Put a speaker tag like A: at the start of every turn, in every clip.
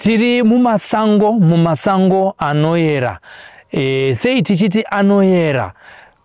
A: tiri mumasango mumasango anoyera e, sei tichiti anoyera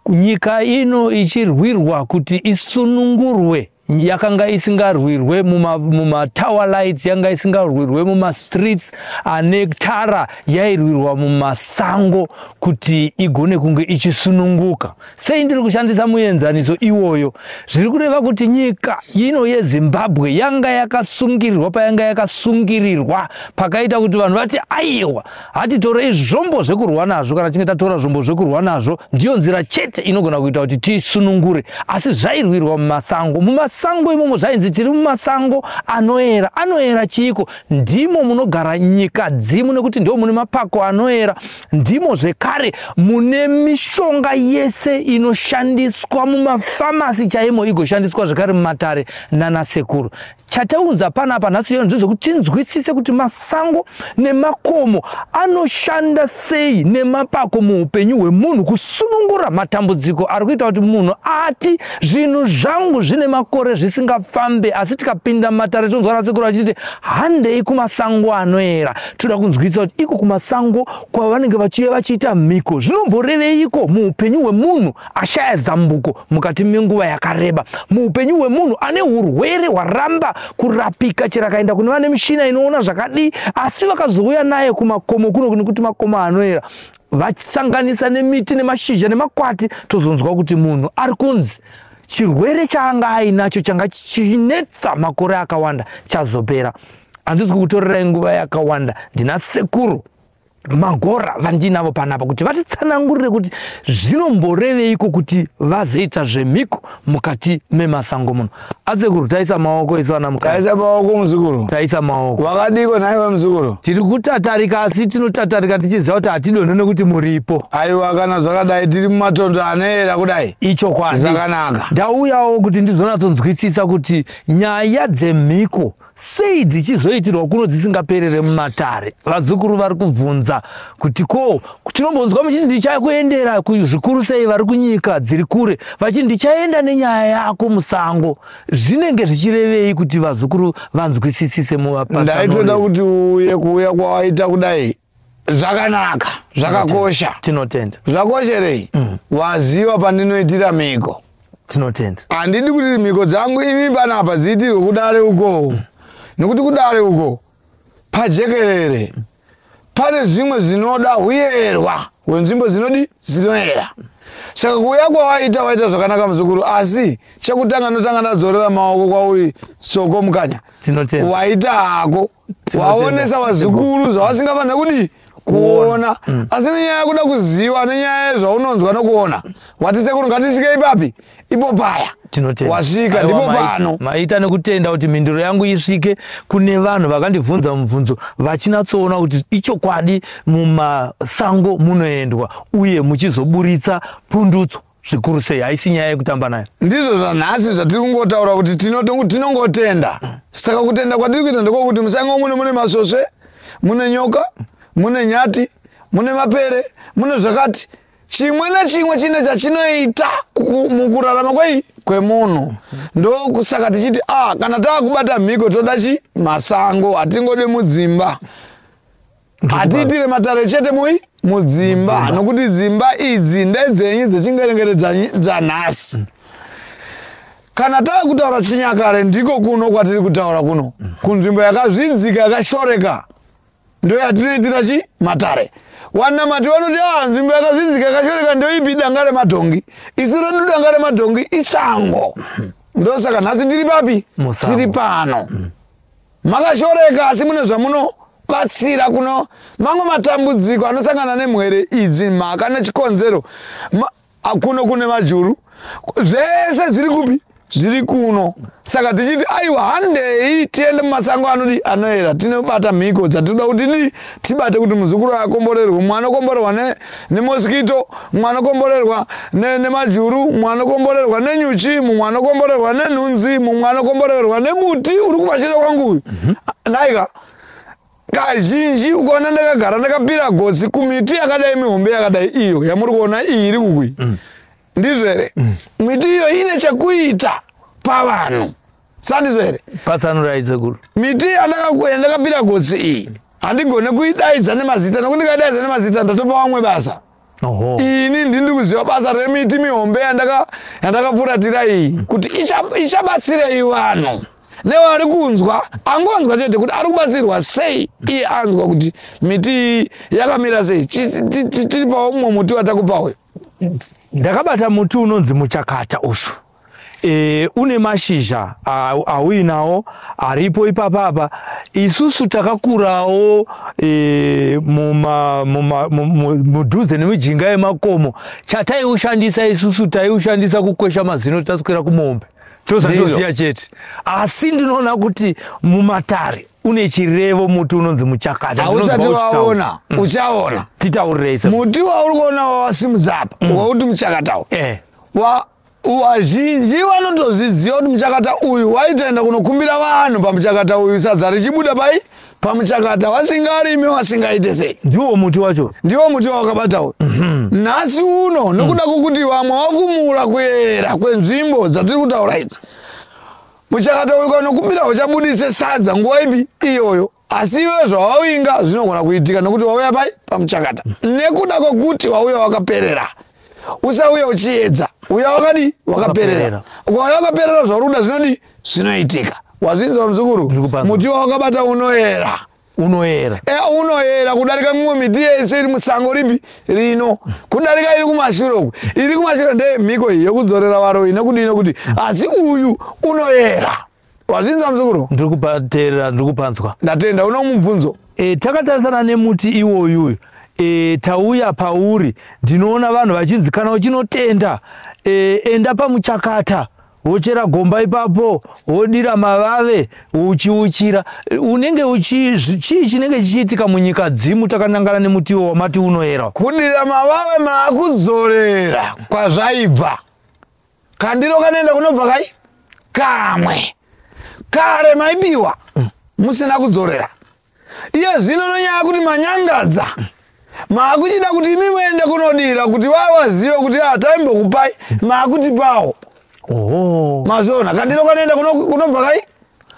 A: nyika ino ichirwirwa kuti isunungurwe yakanga isingarwirwe mumatower muma lights yanga isingarwirwe mumastreets ane tara yairwirwa mumasango kuti igone kunge ichisununguka Sei ndiri kushandisa muenzaniso iwoyo? Zviri kureva kuti nyika ino yeZimbabwe yanga yakasungirirwa payanga yakasungirirwa pakaita kuti vanhu vati aiwa hatitorei zvombo zvekurwa nazvo kana tinge tatora zvombo zvekurwa nazvo ndiyo nzira chete inogona kuita kuti tisunungure asi zvairwirwa mumasango mumasango imomo zvainzi tiri mumasango anoera anoera chiiko ndimo munogara nyika dzimu nekuti ndimo mune mapako anoera ndimo zvekare mune mishonga yese inoshandiswa mumafamasi chaimo igoshandiswa zvekare mumatare nanasekuru chataunza pana apa nhasi yona ndezvekuti tinzwisise kuti masango nemakomo anoshanda sei nemapako muupenyu hwemunhu kusunungura matambudziko ari kuita kuti munhu ati zvinhu zvangu zvine makore zvisingafambe asi tikapinda mumatare tinonzwa nasekuru achiti handei kumasango anoera toda kunzwisa kuti iko kumasango kwavanenge vachiye vachiita mhiko zvinomboreveiko muupenyu hwemunhu ashaya zambuko mukati menguva yakareba muupenyu hwemunhu ane urwere hwaramba kurapika chero akaenda kune vane mishina inoona zvakadii asi vakazouya naye kumakomo kuno nekuti makomo anoera vachisanganisa nemiti nemashizha nemakwati tozonzwa kuti munhu ari kunzi chirwere chaanga ainacho changa chinetsa makore akawanda chazopera handisi kukutorerai nguva yakawanda ndina sekuru magora vandinavo panapa kuti vatitsanangurire kuti zvinomboreveiko kuti vazoita zvemhiko mukati memasango muno asekuru taisa maoko isu ana mukadzi taisa maoko muzukuru
B: taisa maoko
A: wakadiko nhaiwe muzukuru
B: tiri kutatarika
A: asi tinotatarika tichiziva kuti hatidonhe nekuti muripo aiwa kana zvakadai
B: tiri mumatondo anoera kudai ichokwadi zvakanaka
A: ndauyawo
B: kuti
A: ndizonatsonzwisisa kuti nyaya dzemhiko sei dzichizoitirwa kuno dzisingaperere mumatare vazukuru vari kubvunza kuti ko tinombonzwa muchiti ndichakuendera zvikuru sei vari kunyika dziri kure vachiti ndichaenda nenyaya yako musango zvinenge zvichirevei kuti vazukuru vanzwisisise muvapaandaitoda kuti
B: uye kuuya kwawaita kudai zvakanaka zvakakosha tinotenda
A: zvakosherei mm.
B: waziva pandinoitira mhiko tinotenda
A: handidi kuti mhiko
B: dzangu ini panapa dziitirwe kudare uko mm. nekuti kudare uko pajekerere mm. pane zvimwe zvinoda huyerwa wenzvimbo dzinodi dzinoera saka kuuya kwawaita waita zvakanaka muzukuru asi chekutanga notanga ndadzorera maoko kwauri soko mukanya waita
A: hako
B: waonesa vazukuru zvavasingafanira kudii kuona mm. asi nenyaya yekuda kuziva nenyaya yezvaunonzwa nokuona wati sekuru ngatisvike ipapi ipo paya wasvika
A: ndipo pano
B: maita nekutenda kuti
A: mhinduro yangu isvike kune vanhu vakandibvunza mubvunzo vachinatsoona kuti ichokwadi mumasango munoendwa uye muchizoburitsa pundutso zvikuru sei haisi nyaya yekutamba nayo ndizvo zvanhasi
B: zvatiri kungotaura kuti tinongotenda saka kutenda kwatiri kuita ndekwokuti musango mune mune masvosve mune nyoka mune nyati mune mapere mune zvakati chimwe nechimwe chine chachinoita mukurarama kwei kwemunhu ndokusaka tichiti a ah, kana takubata mhiko toda chi masango hatingode mudzimba hatiitire matare chete mui mudzimba nokuti dzimba idzi ndedzenyu dzechingerengere dzanhasi kana tava kutaura chinyakare ndiko kuno kwatiri kutaura kuno kunzvimbo yakazvidzika yakashoreka ndo yatinoitira chi matare wanamati vanoti a ah, nzvimbo yakazvidzika yakashoreka ndoipi danga remadhongi isu redu danga remadhongi isango ndosaka nhasi tiri papi tiri pano mm. makashoreka asi mune zvamuno batsira kuno mamwe matambudziko anosangana nemwere idzi mhaka nechikonzero kuno kune majuru zvese zviri kupi zviri kuno saka tichiti aiwa handei tiende mumasango anodi anoera tinobata mhiko dzatinoda kuti ni tibate kuti muzukuru akomborerwe mumwe anokomborerwa nemosikito mumwe anokomborerwa nemajuru mumwe anokomborerwa nenyuchi mumwe anokomborerwa nenhunzi mumwe anokomborerwa nemuti uri kuvashira kwangu uyu mhm. naika kazhinji ukaona ndakagara ndakapira gotsi kumiti yakadai mihombe yakadai iyo yamuri kuona iyi iri kukui mm. ndizvo here mm. miti iyo ine chekuita pavanhu sandizvo
A: here
B: patsanurai dzekuru miti
A: yandakapira
B: gotsi iyi handigone kuidaidza nemazita nokuti ndikaidaidza nemazita ndatopa vamwe basa ini ndindiri kuziva basa remiti mihombe yandakapfuratira iyi kuti ichabatsirei vanhu nevari kunzwa angonzwa chete kuti ari kubatsirwa sei iye anzwa kuti miti yakamira sei tiri paumwe muti watakupa uyu
A: ndakabata muti unonzi muchakata ushu e, une mashizha auinawo aripo ipapa apa isusu takakurawo e, mudhuze nemijinga yemakomo chataiushandisa isusu taiushandisa kukwesha mazino taswera kumombe tozandoziya chete asi ndinoona kuti mumatare une chirevo muti unonzi muchakata hausati waona
B: mm. uchaona titaurirei muti
A: wauri kuona
B: wawasimudza apa mm. wauti muchakatawo eh. wa wazhinji vanotozviziva kuti muchakata uyu waitaenda kunokumbira vanhu pamuchakata uyu sadza richibuda pai pamuchakata wasingarimi wasingaite sei ndiwo muti wacho
A: ndiwo muti wawakabatawo
B: mhm. nhasi uno nokuda mm. kwokuti vamwe vakumuura kuera kwenzvimbo dzatiri kutaura idzi Muchakatauka unokumbira uchabudise sadza nguva ipi iyoyo asi iwe zvawawinga zvinogona kuitika nokuti wauya pai pamuchakata nekuda kwokuti wauya wakaperera usauya uchiedza uya wakadi wakaperera ukauya wakaperera zvauri kuda zvinodi zvinoitika wazvinzwa muzukuru muti wawakabata unoera unoyera
A: e, unoyera
B: kudarika mimwe miti yese iri musango ripi rino kudarika iri kumashure uku iri kumashure ndeye mhiko iyi yokudzorera varoyi nekudii nokuti asi uyu unoyera wazvinza muzukuru ndiri kupateerera ndiri
A: kupanzwa ndatenda uno mubvunzo
B: e, takatarisana
A: nemuti iwoyuyu e, tauya pauri ndinoona vanhu vachinzi kana uchinotenda e, enda pamuchakata wochera gomba ipapo wodira mavave uchiuchira unenge uchi chii chinenge chichiitika munyika dzimu takanangana nemutiwo wamati unoyera kudira mavave
B: maakuzorera kwazvaibva kandiro kanoenda kunobva kai kamwe kare maibiwa musina kudzorera iye zvino nonyaya kuti manyangadza maakuchida kuti imi muende kunodira kuti vaa vazive kuti a ah, taimbokupai maakutipawo mazviona kandiro kanoenda kunobva kai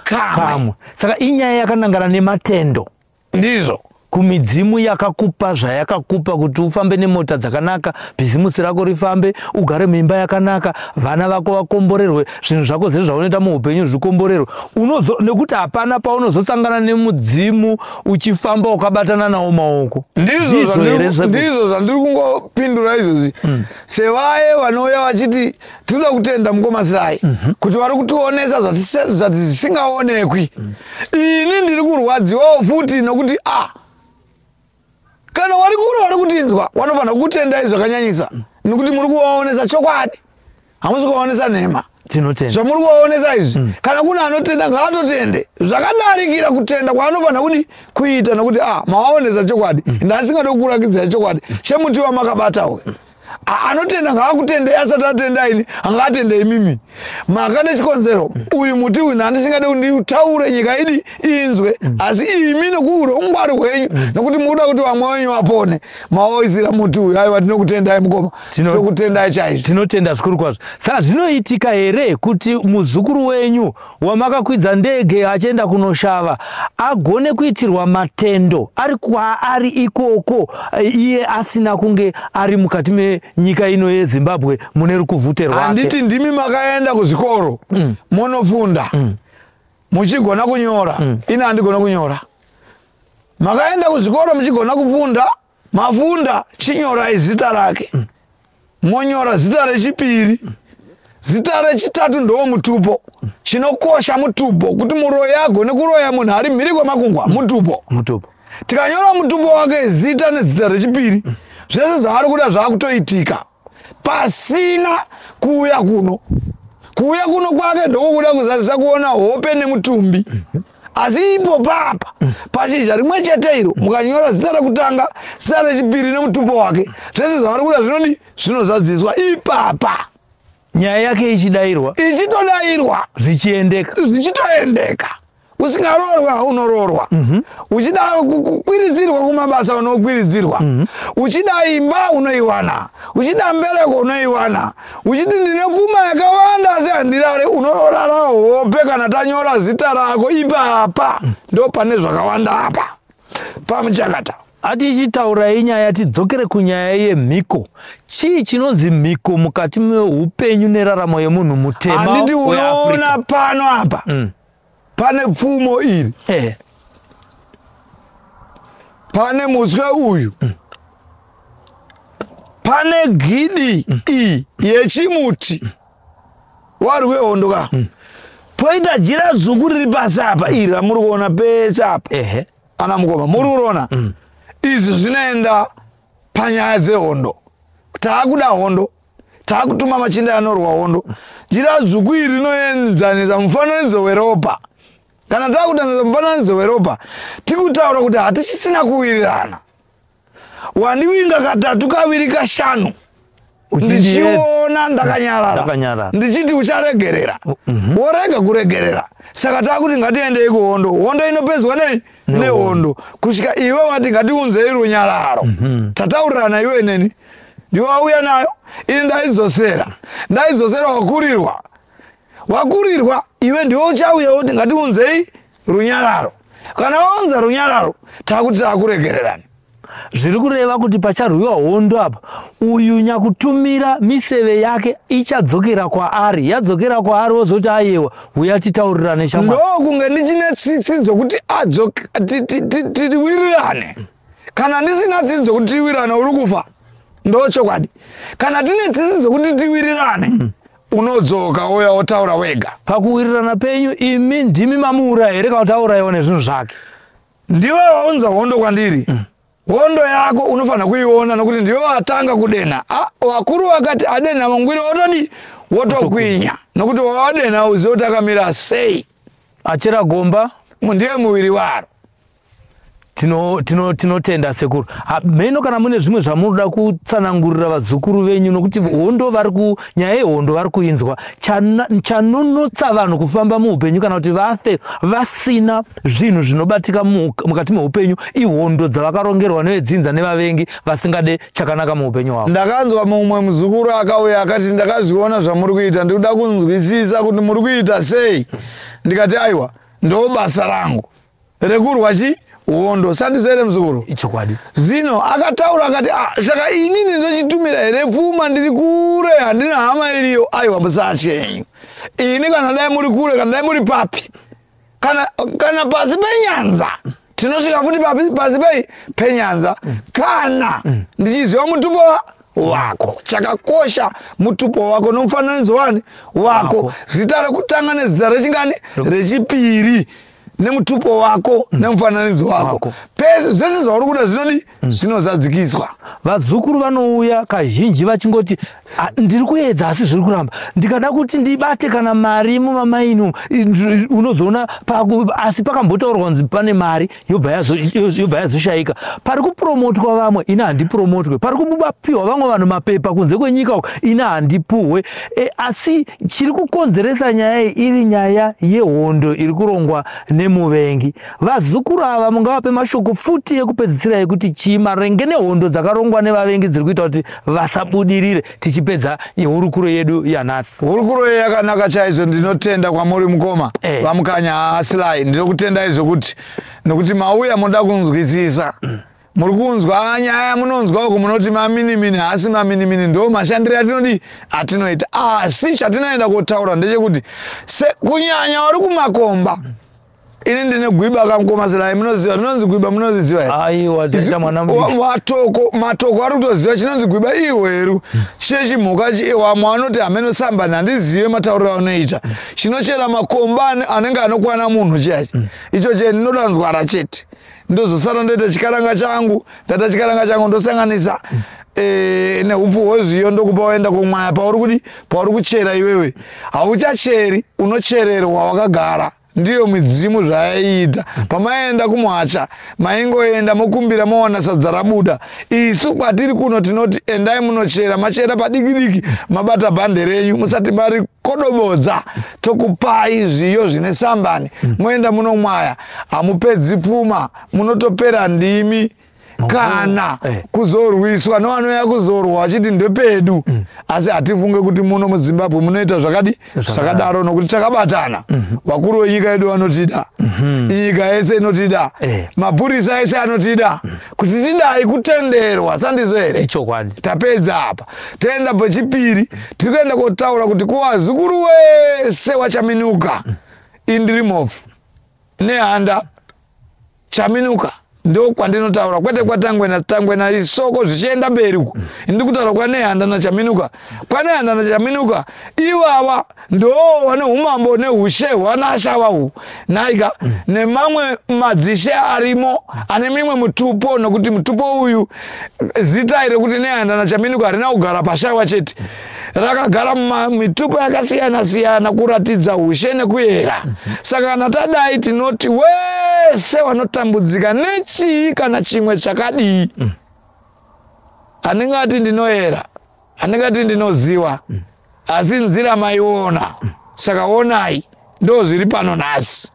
B: kamwe saka inyaya
A: yakanangana nematendo ndizvo
B: kumidzimu
A: yakakupa zvayakakupa kuti ufambe nemota dzakanaka bhizimusi rako rifambe ugare muimba yakanaka vana vako vakomborerwe zvinhu zvako zvese zvaunoita muupenyu zvikomborerwe unozo nekuti hapana paunozosangana nemudzimu uchifamba ukabatana nawo maoko ndizvo
B: zvandiri kungopindura izvozvi mm. sevaye vanouya vachiti tinoda kutenda mukomasirai mm -hmm. kuti vari kutionesa zvati zvisingaonekwi mm. ini ndiri kurwadziwawo futi nokuti a ah, kana wari kure wari kutinzwa wanofanira kutendai zvakanyanyisa nekuti muri kuvaonesa chokwadi hamusi kuvaonesa nhema tinotenda zvamuri kuvaonesa izvi mm. kana kune anotenda ngaatotende zvakadarikira kutenda kwaanofanira kuti kuita nokuti a ah, mawaonesa chokwadi mm. ndasingade kukurakidzai chokwadi chemuti wamakabata uyu mm. anotenda ngaakutendei asati atenda ini angaatende imimi maka nechikonzero uyu muti uyu nani singade kunditaure nyika idi inzwe asi imi nokuuro ungwari hwenyu nokuti mukuda kuti vamwe wenyu vapone maoisira muti uyu aiwa tinokutendai mukoma tinokutendai chaizvo tinotenda zvikuru kwazvo
A: saka zvinoitika here kuti muzukuru wenyu wamakakwidza ndege achienda kunoshava agone kuitirwa matendo ari kwaari ikoko iye asina kunge ari mukati menyika ino yezimbabwe mune rukuvhute rwake handiti ndimi makaenda
B: kuzvikoro mm. monofunda mm. muchigona kunyora mm. ini handigona kunyora makaenda kuzvikoro muchigona kufunda mm. mavunda chinyorai zita rake mm. monyora zita rechipiri mm. zita rechitatu ndowo mutupo mm. chinokosha mutupo kuti muroyi agone kuroya munhu ari mhiri kwemakungwa mm. mutupo mutupo tikanyora mutupo wake zita nezita rechipiri mm. zvese zvaari kuda zvaakutoitika pasina kuuya kuno kuuya kuno kwake ndokukuda kuzadzisa kuona hope nemutumbi asi ipo papa pashizha rimwe chete iro mukanyora zita rekutanga zita rechipiri nemutupo wake zvese zvavari kuda zvinoni zvinozadziswa ipapa nyaya
A: yake ichidairwa ichitodairwa
B: zvichiendeka
A: zvichitoendeka
B: usingaroorwe haunoroorwa mhm. uchida kukwiridzirwa kumabasa unokwiridzirwa mhm. uchida imba unoiwana uchida mbereko unoiwana uchiti ndine pfuma yakawanda asi handirare unororara hope kana tanyora zita rako ipapa mhm. ndo pane zvakawanda apa pamuchakata atichitaurai
A: nyaya tidzokere kunyaya yemhiko chii chinonzi mhiko mukati meupenyu neraramo yemunhu mutema weafrica
B: pano apa mm. pane pfumo iri eh. pane muswe uyu mm. pane gidi mm. iyi yechimuti mm. wari wehondo ka mm. poita jira dzuku riri pasi apa iri ramuri kuona pese apa ehe ana mukoma muri kuroona mm. izvi zvinoenda panyaya dzehondo taakuda hondo takutuma machinda anorwa hondo jira dzvuku iri rinoenzanisa mufananidzo weropa kana takutanisa mufananidzo weropa tikutaura kuti hatichisina kuwirirana wandiwinga katatu kaviri kashanu ndichiona ndakanyarara ndichiti ucharegerera mhm. worega kuregerera saka takuti ngatiendei kuhondo hondo inopedzwa nei nehondo kusvika iwe wati ngatiunzei runyararo mhm. tataurirana iwe neni ndiwe wauya nayo ini ndaidzosera ndaidzosera wakurirwa wakurirwa iwe ndiwe uchauya woti ngatiunzei runyararo kana waunza runyararo takuti takuregererani zviri
A: kureva kuti pacharwiwa hondo apa uyu nyakutumira miseve yake ichadzokera kwaari yadzokera kwaari wozoti ayewa huya titaurirane chama ndo kunge ndichine
B: tsitsi dzokuti tiwirirane kana ndisina tsitsi dzokuti tiwirirane uri kufa ndo chokwadi kana tine tsitsi dzokuti tiwirirane mm. unodzoka uya wotaura wega pakuwirirana penyu
A: imi ndimi mamuura here kana kuti aurayiwa nezvinhu zvake ndiwe
B: waunza hondo kwandiri mm. hondo yako unofanira kuiona nokuti ndiwe watanga kudenha vakuru vakati adenha mangwiri otodi wotokwinya nokuti wawadenha uzive kuti akamira sei achera
A: gomba ndiye muviri
B: waro
A: tinotenda sekuru mheno kana mune zvimwe zvamunoda kutsanangurira vazukuru venyu nokuti hondo vari nyaya yehondo vari kuinzwa chanunutsa vanhu kufamba muupenyu kana kuti vafe vasina zvinhu zvinobatika mukati meupenyu ihondo dzavakarongerwa nevedzinza nevavengi vasingade chakanaka muupenyu hwavo ndakanzwa mumwe
B: muzukuru akauya akati ndakazviona zvamuri kuita ndikuda kunzwisisa kuti muri kuita sei ndikati aiwa ndobasa rangu rekurwa chi hondo sandizo here muzukuru ichokwadi zvino
A: akataura
B: akati ah, saka inini ndochitumira here pfuma ndiri kure handina hama iriyo aiwa musatye henyu ini kana dai muri kure kana dai muri papi kana, kana pasi penyanza tinosvika futi papi pasi pei penyanza mm. kana mm. ndichiziva mutumbo wa wako chakakosha mutupo wako nomufananidzo wani wako zita rekutanga nezita rechingani rechipiri nemutupo wako mm. nemufananidzo wako pese zvese zvauri kuda zvinodi mm. zvinozadzikiswa vazukuru
A: vanouya kazhinji vachingoti ndiri kuedza asi zviri kuramba ndikada kuti ndibate kana mari mumamaini unozoona asi pakambotaurwa kunzi pane mari yobva yazoshaika pari kupromotwa vamwe ini handipuromotwe pari kubapiwa vamwe vanhu mapepa kunze kwenyika uku ini handipuhwe E, asi chiri kukonzeresa nyaya iyi iri nyaya yehondo iri kurongwa nemuvengi vazukuru ava mungavape mashoko futi ekupedzisira yekuti chii marenge nehondo dzakarongwa nevavengi dziri kuita kuti vasabudirire tichipedza hurukuro yedu yanhasi hurukuro ye yakanaka
B: chaizvo ndinotenda kwamuri mukoma e. vamukanya haasilai ndinokutendai zvokuti nokuti mauya moda kunzwisisa mm. muri kunzwa nyaya munonzwa uku munoti maminimini haasi maminimini ndo mashandiro atinodii atinoita asi chatinoenda kotaura ndechekuti kunyanya wari kumakomba ini ndine gwiba kamkomazirai munoziva rinonzi gwiba munoziziva herematoko
A: matoko
B: ari kutoziva chinonzi gwiba ihweru chechimhuka wamwe anoti hameno sambani handizive matauriro anoita chinochera makomba anenge anokwana munhu chiyachi icho chee ndinodanzwara chete ndozosara ndoita chikaranga changu ndata chikaranga changu ndosanganisa eh, neupfu hwezviyo ndokupa waenda kumwaya pauri kudi pauri kuchera iwewe hauchacheri unochererwa wakagara ndiyo midzimu zvayaiita pamaenda kumuhacha maingoenda mokumbira mowana sadza rabuda isu kwatiri kuno tinoti endai munochera machera padikidiki mabata bhande renyu musati mari kodobodza tokupai zviyo zvine sambani moenda munomwaya hamupedzi pfuma munotopera ndimi kana eh. kuzorwiswa nevanouya kuzorwa vachiti ndepedu mm. asi hatifunge kuti muno muzimbabwe munoita zvakadi zvakadaro nokuti takabatana mhm. vakuru venyika yedu vanotida mhm. nyika yese inotida eh. mapurisa ese anotida mm. kuti tidai kutenderwa sandizvo here tapedza apa toenda pechipiri tiri kuenda kotaura kuti kuvazukuru wese wachaminuka mm. indirimofu nehanda chaminuka ndo kwandinotaura kwete kwatangwena tangwena isoko zvichienda mberi uku ndi kutaura kwanehanda nachaminuka kwanehanda nachaminuka ivava ndo vane umambo neushe hwanashava uhu naika nemamwe madzishe arimo ane mimwe mutupo nokuti mutupo uyu zita iri kuti nehanda nachaminuka harina kugara pashaiwa chete mm. rakagara mumitupo yakasiyana siyana kuratidza ushe nekuyera saka kana tadai tinoti wese wanotambudzika nechii kana chimwe chakadii anenge ati ndinoyera anenge ati ndinoziva asi nzira maiona saka onai ndo zviri pano nhasi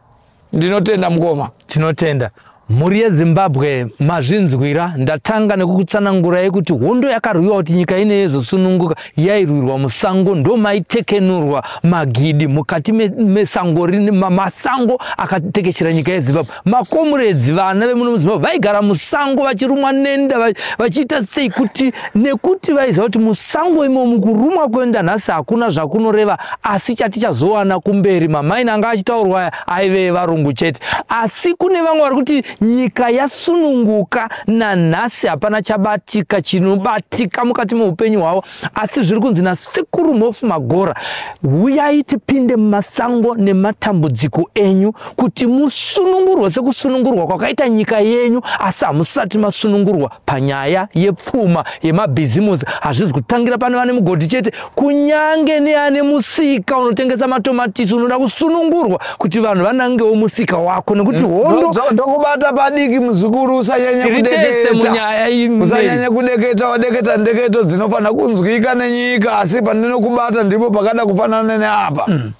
B: ndinotenda mukoma tinotenda
A: mhuri yezimbabwe mazvinzwira ndatanga nekukutsanangurai kuti hondo yakarwiwa kuti nyika ine yezosununguka yairwirwa musango ndomaitekenurwa magidi mukati mesango me masango akatekeshera nyika yezimbabwe makomuredzi vana vemuno muzimbabwe vaigara musango vachirumwa nenda vachiita sei kuti nekuti vaiziva kuti musango imomu kurumwa kuenda nhasi hakuna zvakunoreva asi chatichazowana kumberi mamaini anga achitaurwa aya aive varungu chete asi kune vamwe vari kuti nyika yasununguka nanhasi hapana chabatika chinobatika mukati meupenyu hwavo asi zviri kunzi nasekuru mhofu magora huyai tipinde mumasango nematambudziko enyu kuti musunungurwe sekusunungurwa kwakaita nyika yenyu asi hamusati masunungurwa panyaya yepfuma yemabhizimusi hazvizi kutangira pane vane mugodhi chete kunyange neane musika unotengesa matomatisi unoda kusunungurwa kuti vanhu vanangewo musika wako nekuti mm, hondo ndokubata padiki
B: muzukuru usanyanya kudekeusanyanya kudeketa wadeketa ndeketo dzinofanira kunzwika nenyika asi pandinokubata ndipo pakada kufanana neapa mm.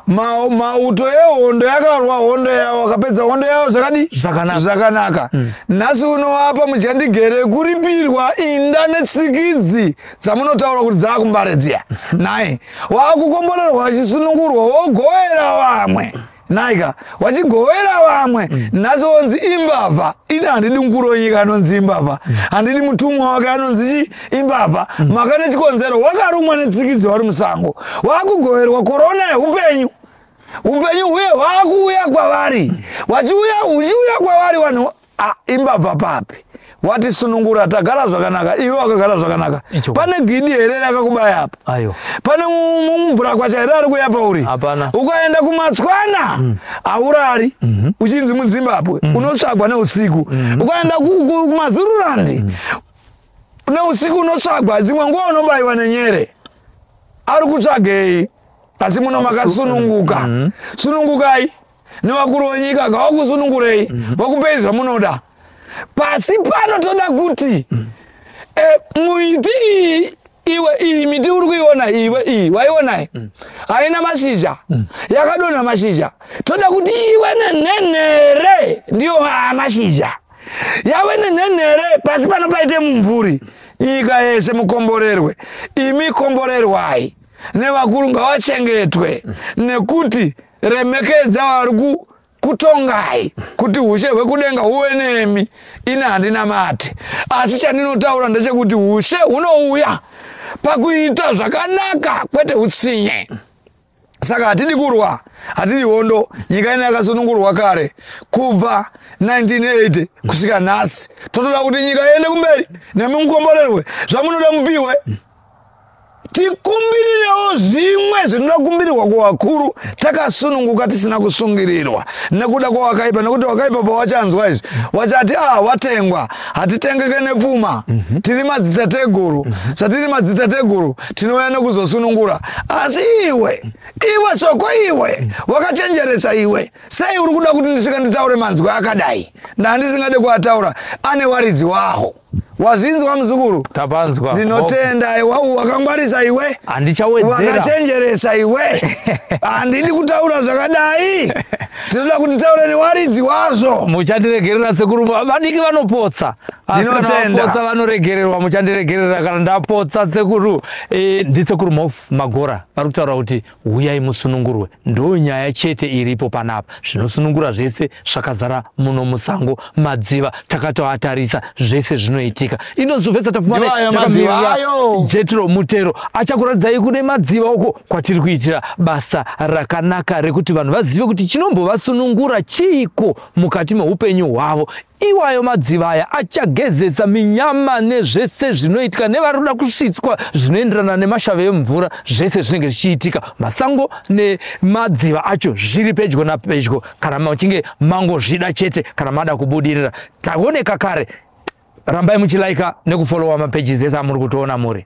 B: Ma- mauto ehondo yakarwa hondo yawo akapedza hondo yawo zvakadi Zvakanaka. zvakanaka nhasi unoapa muchandigere kuripirwa inda netsikidzi dzamunotaura kuti dzaakumbare dziya nhai waakukomborerwa achisunungurwa wogoera vamwe nhaika vachigovera vamwe mm. nhasi vonzi imbavha ini handidi mukuru wenyika anonzi imbavha mm. handidi mutumwa wake anonzi chi imbavha mm. maka nechikonzero wakarumwa netsikidzi wari musango waakugoverwa korona yeupenyu upenyu huye hwaakuuya kwavari vachiuya uchiuya kwavari vanhu Ah, imbabva papi wati sunungura tagara zvakanaka iwe wakagara zvakanaka pane gidi here rakakubaya apa pane mubhurakwacha here ari kuya pauri ukaenda kumatswana hmm. haurari mhm. uchinzi muzimbabwe hmm. unotsvagwa neusiku hmm. ukaenda kumazururandi neusiku unotsvagwa dzimwe nguva unobayiwa nenyere ari kutsvagei asi muno makasununguka sunungukai nevakuru wenyika ngavakusunungurei mm. vakupei zvamunoda pasi pano toda kuti mm. e, eh, muiti iyi iwe iyi miti uri kuiona iwe iyi waionai mm. haina mashizha mm. yakadonha mashizha toda kuti iwe nenhenhere ndiyo mashizha yave nenhenhere pasi pano paite mumvuri nyika yese mukomborerwe imi komborerwai nevakuru ngavachengetwe mm. nekuti remekedza vari ku kutongai kuti ushe hwekudenga huve nemi ini handina mati asi chandinotaura ndechekuti ushe hunouya pakuita zvakanaka kwete utsinye saka hatidi kurwa hatidi hondo nyika ino yakasunungurwa kare kubva 1980 kusvika nhasi totoda kuti nyika iende kumberi nemi mukomborerwe zvamunoda mupihwe tikumbirirewo zvimwe zvinoda kumbirirwa kuvakuru takasununguka tisina kusungirirwa nekuda kwawakaipa nekuti wakaipa pawachanzwa izvi wachati a ah, watengwa hatitengeke nepfuma mhm. tiri madzitateguru mhm. zvatiri madzitateguru tinouya nekuzosunungura asi iwe iwe soko iwe mhm. wakachenjeresa iwe sei uri kuda kuti ndisvika nditaure manzwi akadai ndaa ndisingade kuataura ane waridzi waho wazvinzwa muzukuru tapanzwa ndinotenda
A: aiwa
B: wakangwarisa iwe wakachenjeresa
A: iwe
B: handidi kutaura zvakadai tinoda kuti taure newaridzi wazvo muchandiregerera
A: sekuru vadiki vanopotsa ndinotendapotsa
B: vanoregererwa
A: muchandiregerera kana ndapotsa sekuru e, ndisekuru mof magora vari kutaura kuti huyai musunungurwe ndonyaya chete iripo panapa zvinosunungura zvese zvakazara muno musango madziva takatoatarisa zvese zvinoitika inozovesa tafumajetro mutero achakuratidzai kune madziva uko kwatiri kuitira basa rakanaka rekuti vanhu vazive kuti chinombovasunungura chiiko mukati meupenyu hwavo Iwayo madziva aya achagezesa minyama nezvese zvinoitika nevari kuda kusvitswa zvinoenderana nemashave emvura zvese zvinenge zvichiitika masango nemadziva acho zviri pedyo napedyo kana muchinge mangozvida chete kana mada kubudirira taoneka kare rambai muchilaika nekufolowa mapages ese amuri kutoona muri